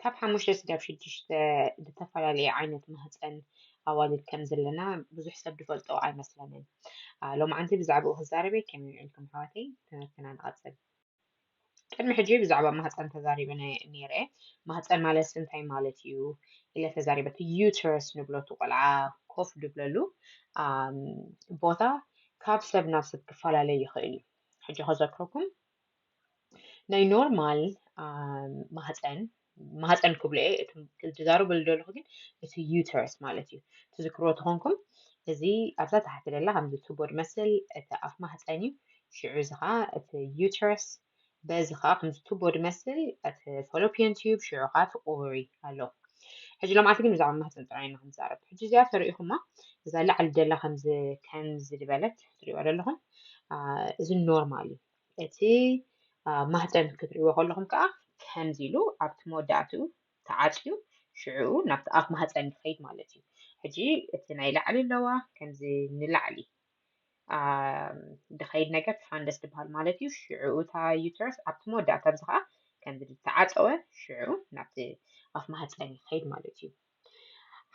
ካብ ሓሙሽተ ስጋብ ሽዱሽተ ዝተፈላለየ ዓይነት ማህፀን ኣዋልድ ከም ዘለና ብዙሕ ሰብ ዝፈልጦ ኣይመስለንን ሎማዓንቲ ብዛዕባኡ ክዛረብ እየ ከመይ ውዒልኩም ኣሕዋተይ ትምህርትና ንቐፅል ቅድሚ ሕጂ ብዛዕባ ማህፀን ተዛሪበ ነይረ ማህፀን ማለት ስንታይ ማለት እዩ ኢለ ተዛሪበ እቲ ዩተረስ ንብሎ እቲ ቆልዓ ኮፍ ድብለሉ ቦታ ካብ ሰብ ናብ ሰብ ክፈላለ ይኽእል እዩ ሕጂ ከዘክረኩም ናይ ኖርማል ማህፀን ማህፀን ክብሎ እየ እቲ ዝዛረበሉ ዘለኹ ግን እቲ ዩተረስ ማለት እዩ ትዝክርዎ ተኾንኩም እዚ ኣብዛ ታሕቲ ደላ ከምዚ ቱቦ ድመስል እቲ ኣፍ ማህፀን እዩ ሽዑ እዚ ከዓ እቲ ዩተረስ በዚ ከዓ ከምዚ ቱቦ ድመስል እቲ ፎሎፒዮን ትዩብ ሽዑ ከዓ እቲ ኦቨሪ ኣሎ ሕጂ ሎምዓልቲ ግን ብዛዕባ ማህፀን ጥራይ ኢና ክንዛረብ ሕጂ እዚኣ ተርእኹማ እዛ ላዕሊ ደላ ከምዚ ከምዚ ዝበለት ትሪእዋ ዘለኹም እዚ ኖርማል እዩ እቲ ማህጸን ክትርእይዎ ከለኹም ከኣ ከምዚ ኢሉ ኣብቲ መወዳእትኡ ተዓጽዩ ሽዑኡ ናብቲ ኣፍ ማህጸን ይኸይድ ማለት እዩ። ሕጂ እቲ ናይ ላዕሊ ኣለዋ ከምዚ ንላዕሊ ድኸይድ ነገር ትፋንደስ ትበሃል ማለት እዩ ሽዑኡ እታ ዩትረስ ኣብቲ መወዳእታ ኣብዚ ከዓ ከምዚ ዝተዓፀወ ሽዑ ናብቲ ኣፍ ማህፀን ይኸይድ ማለት እዩ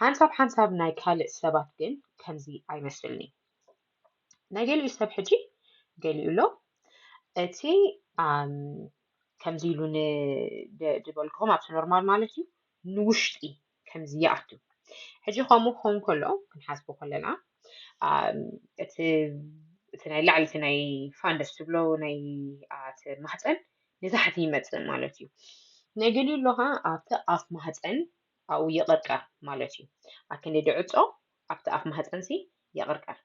ሓንሳብ ሓንሳብ ናይ ካልእ ሰባት ግን ከምዚ ኣይመስልኒ ናይ ገሊኡ ሰብ ሕጂ ገሊኡ ኣሎ እቲ ከምዚ ኢሉ ዝበልክኹም ኣብቲ ኖርማል ማለት እዩ ንውሽጢ ከምዚ ይኣቱ ሕጂ ከምኡ ክኸውን ከሎ ክንሓስቦ ከለና እቲ እቲ ናይ ላዕሊ እቲ ናይ ፋንደስ ትብሎ ናይ ኣቲ ማህፀን ንታሕቲ ይመፅእ ማለት እዩ ናይ ገሊኡ ኣሎ ከዓ ኣብቲ ኣፍ ማህፀን ኣብኡ ይቐቀር ማለት እዩ ኣክንዲ ዕፆ ኣብቲ ኣፍ ማህጸንሲ ይቕርቀር።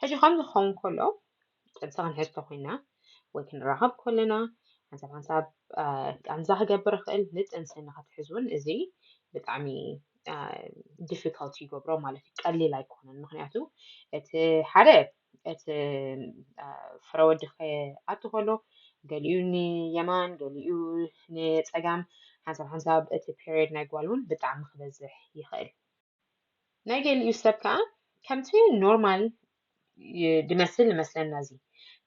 ሕጂ ከምዚ ክኸውን ከሎ ጥንሲ ክንሕዝ ተኾይና ወይ ክንራኸብ ከለና ሓንሳብ ሓንሳብ ቃንዛ ክገብር ይኽእል። ንጥንሲ ንክትሕዝ እውን እዚ ብጣዕሚ ዲፊካልቲ ይገብሮ ማለት እዩ። ቀሊል ኣይኮነን። ምክንያቱ እቲ ሓደ እቲ ፍረ ወዲ ክኣቱ ከሎ ገሊኡ ንየማን ገሊኡ ንጸጋም ሓንሳብ ሓንሳብ እቲ ፔሪድ ናይ ጓል እውን ብጣዕሚ ክበዝሕ ይኽእል። ናይ ገሊኡ ሰብ ከኣ ከምቲ ኖርማል ድመስል ንመስለና እዚ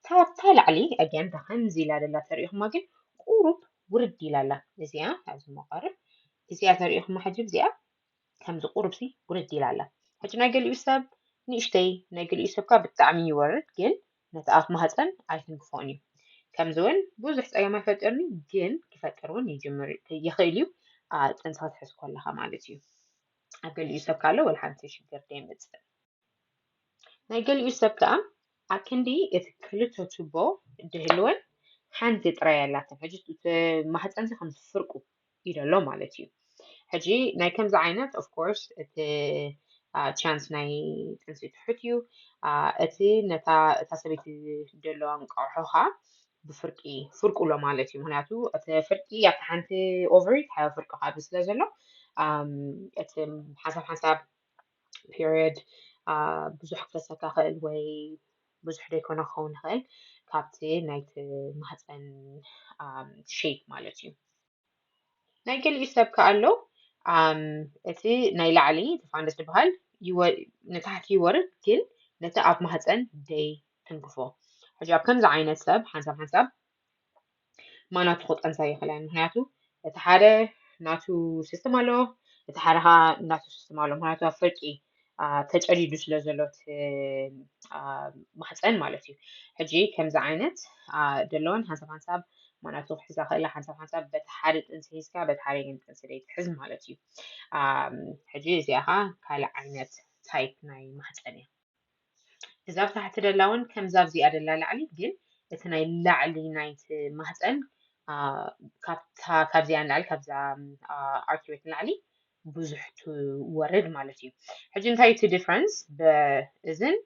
ካብታ ላዕሊ ኣጊያን ከምዚ ኢላ ደላ ተርእኹማ ግን ቁሩብ ውርድ ኢላ ኣላ እዚኣ ኣብዚ መቐርብ እዚኣ ተርእኹማ ሕጂ እዚኣ ከምዚ ቁሩብሲ ውርድ ኢላ ኣላ ሕጂ ናይ ገሊኡ ሰብ ንእሽተይ ናይ ገሊኡ ሰብካ ብጣዕሚ ይወርድ ግን ነቲ ኣፍ ማህጸን ኣይትንክፎን እዩ ከምዚ ውን ብዙሕ ጸገም ኣይፈጥርን እዩ ግን ክፈጥር ውን ይጅምር ይኽእል እዩ ኣብ ጥንሲ ክትሕዝ ኮለኻ ማለት እዩ ኣብ ገሊኡ ሰብ ካለ ወላ ሓንቲ ሽግር ደይመጽእ ናይ ገሊኡ ሰብ ከኣ ኣክንዲ እቲ ክልተ ቱቦ ድህልወን ሓንቲ ጥራይ ኣላተን ሕጂ ማህጸንሲ ከምዚ ፍርቁ እዩ ዘሎ ማለት እዩ ሕጂ ናይ ከምዚ ዓይነት ኦፍ ኮርስ እቲ ቻንስ ናይ ጥንሲ ትሑት እዩ እቲ ነታ እታ ሰበይቲ ደሎ እንቋቑሖኻ ብፍርቂ ፍርቁሎ ማለት እዩ ምክንያቱ እቲ ፍርቂ ኣብቲ ሓንቲ ኦቨሪ ሓዊ ፍርቂ ካብዚ ስለ ዘሎ እቲ ሓንሳብ ሓንሳብ ፔሪየድ ብዙሕ ክፈሰካ ይኽእል ወይ ብዙሕ ዘይኮነ ክኸውን ይኽእል ካብቲ ናይቲ ማህፀን ሼፕ ማለት እዩ ናይ ገሊኡ ሰብ ከዓ ኣሎ እቲ ናይ ላዕሊ ተፋንደስ ዝበሃል ንታሕቲ ይወርድ ግን ነቲ ኣብ ማህፀን ደይ ትንክፎ ሕጂ ኣብ ከምዚ ዓይነት ሰብ ሓንሳብ ሓንሳብ ማናቱ ክጠንሳ ይኽእላን ምክንያቱ እቲ ሓደ ናቱ ስስትም ኣለዎ እቲ ሓደ ከዓ ናቱ ስስትም ኣለዎ ምክንያቱ ኣብ ፍርቂ ተጨዲዱ ስለ ዘሎ ማሕፀን ማለት እዩ ሕጂ ከምዚ ዓይነት ደለዎን ሓንሳብ ሓንሳብ ማናቱ ክሕዛ ክእላ ሓንሳብ ሓንሳብ በቲ ሓደ ጥንሲ ሒዝካ በቲ ሓደ ግን ጥንሲ ዘይትሕዝ ማለት እዩ ሕጂ እዚኣ ከዓ ካልእ ዓይነት ታይፕ ናይ ማሕፀን እያ እዛ ኣብ ታሕቲ ደላ እውን ከምዛ ኣብዚኣ ደላ ላዕሊ ግን እቲ ናይ ላዕሊ ናይቲ ማህፀን ካብዚኣ ንላዕሊ ካብዛ ኣርኪቤት ንላዕሊ ብዙሕ ትወርድ ማለት እዩ ሕጂ እንታይ እቲ ዲፍረንስ በእዝን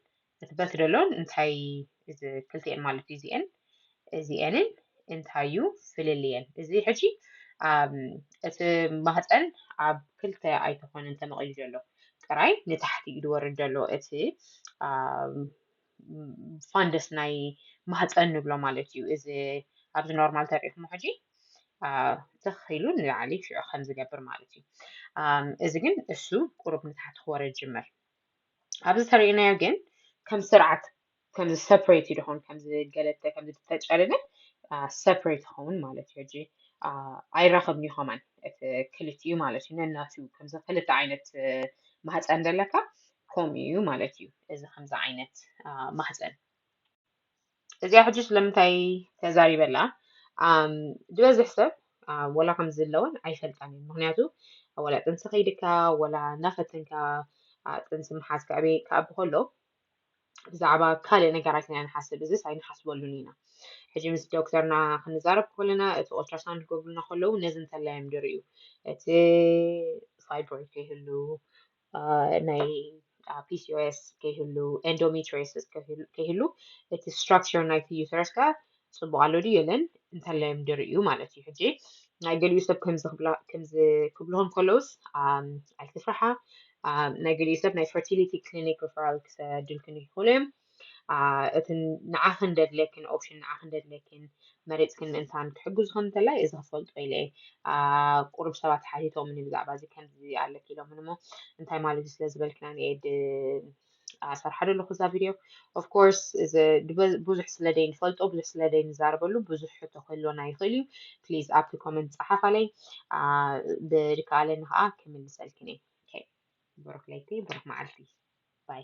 እቲ በት ደሎን እንታይ እዚ ክልቲኤን ማለት እዩ እዚኤን እዚኤንን እንታይ እዩ ፍልልየን? እዚ ሕጂ እቲ ማህፀን ኣብ ክልተ ኣይተኾነን ተመቒሉ ዘሎ ጥራይ ንታሕቲ እዩ ዝወርድ ዘሎ እቲ ፋንደስ ናይ ማህፀን ንብሎ ማለት እዩ። እዚ ኣብዚ ኖርማል ተሪእኹሞ ሕጂ ትኽ ኢሉ ንላዕሊ ሽዑ ከም ዝገብር ማለት እዩ። እዚ ግን እሱ ቁሩብ ንታሕቲ ክወርድ ጅምር ኣብዚ ተርእናዮ ግን ከም ስርዓት ከምዚ ሰፕሬት እዩ ድኾን ከምዚ ገለተ ከምዚ ተጨርነ ሰፕሬት ይኸውን ማለት እዩ ሕጂ ኣይራኸብን እዩ ኸማን እቲ ክልቲኡ ማለት እዩ ነናቱ ከምዚ ክልተ ዓይነት ማህፀን ዘለካ ከምኡ እዩ ማለት እዩ እዚ ከምዚ ዓይነት ማህፀን እዚኣ ሕጂ ስለምንታይ ተዛሪበላ ዝበዝሕ ሰብ ወላ ከምዚ ኣለወን ኣይፈልጣን እዩ ምክንያቱ ወላ ጥንሲ ከይድካ ወላ እናፈተንካ ጥንሲ ምሓዝካ ዕበይ ክኣቢ ከሎ ብዛዕባ ካልእ ነገራት ኢና ንሓስብ፣ እዝስ ኣይንሓስበሉን ኢና። ሕጂ ምስ ዶክተርና ክንዛረብ ከለና፣ እቲ ኦልትራሳውንድ ክገብሩልና ከለዉ ነዚ እንተላይ እዮም ዝርእዩ፣ እቲ ፋይብሮይድ ከይህሉ፣ ናይ ፒሲኦኤስ ከይህሉ፣ ኤንዶሜትሪዮሲስ ከይህሉ፣ እቲ ስትራክቸር ናይቲ ዩተረስ ከኣ ጽቡቅ ኣሎ ድዩ የለን እንተለዮም ድርእዩ ማለት እዩ ሕጂ ናይ ገሊኡ ሰብ ከምዚ ክብላ ከምዚ ክብልሆም ከለውስ ኣይትፍርሓ ናይ ገሊኡ ሰብ ናይ ፈርቲሊቲ ክሊኒክ ሪፈራል ክሰድልክን ይኽእሉ እዮም እቲ ንዓኽን ደድለክን ኦፕሽን ንዓኽን ደድለክን መሬፅክን እንታን ክሕግዙኽን እንተላይ እዚ ክፈልጦ ኢለ ቁሩብ ሰባት ሓቲቶምኒ ብዛዕባ እዚ ከምዚ ኣለኪ ኢሎምን እሞ እንታይ ማለት እዩ ስለ ዝበልክና ንኤድ ኣሰርሓዶ ኣለኹ እዛ ቪድዮ ኦፍ ኮርስ ብዙሕ ስለ ደይንፈልጦ ብዙሕ ስለ ደይንዛረበሉ ብዙሕ ሕቶ ክህልወና ይኽእል እዩ ፕሊዝ ኣብቲ ኮመንት ፀሓፍ ኣለይ ብድከኣለኒ ከዓ ክምልሰልክን እየ ብሩክ ለይቲ ብሩክ መዓልቲ ባይ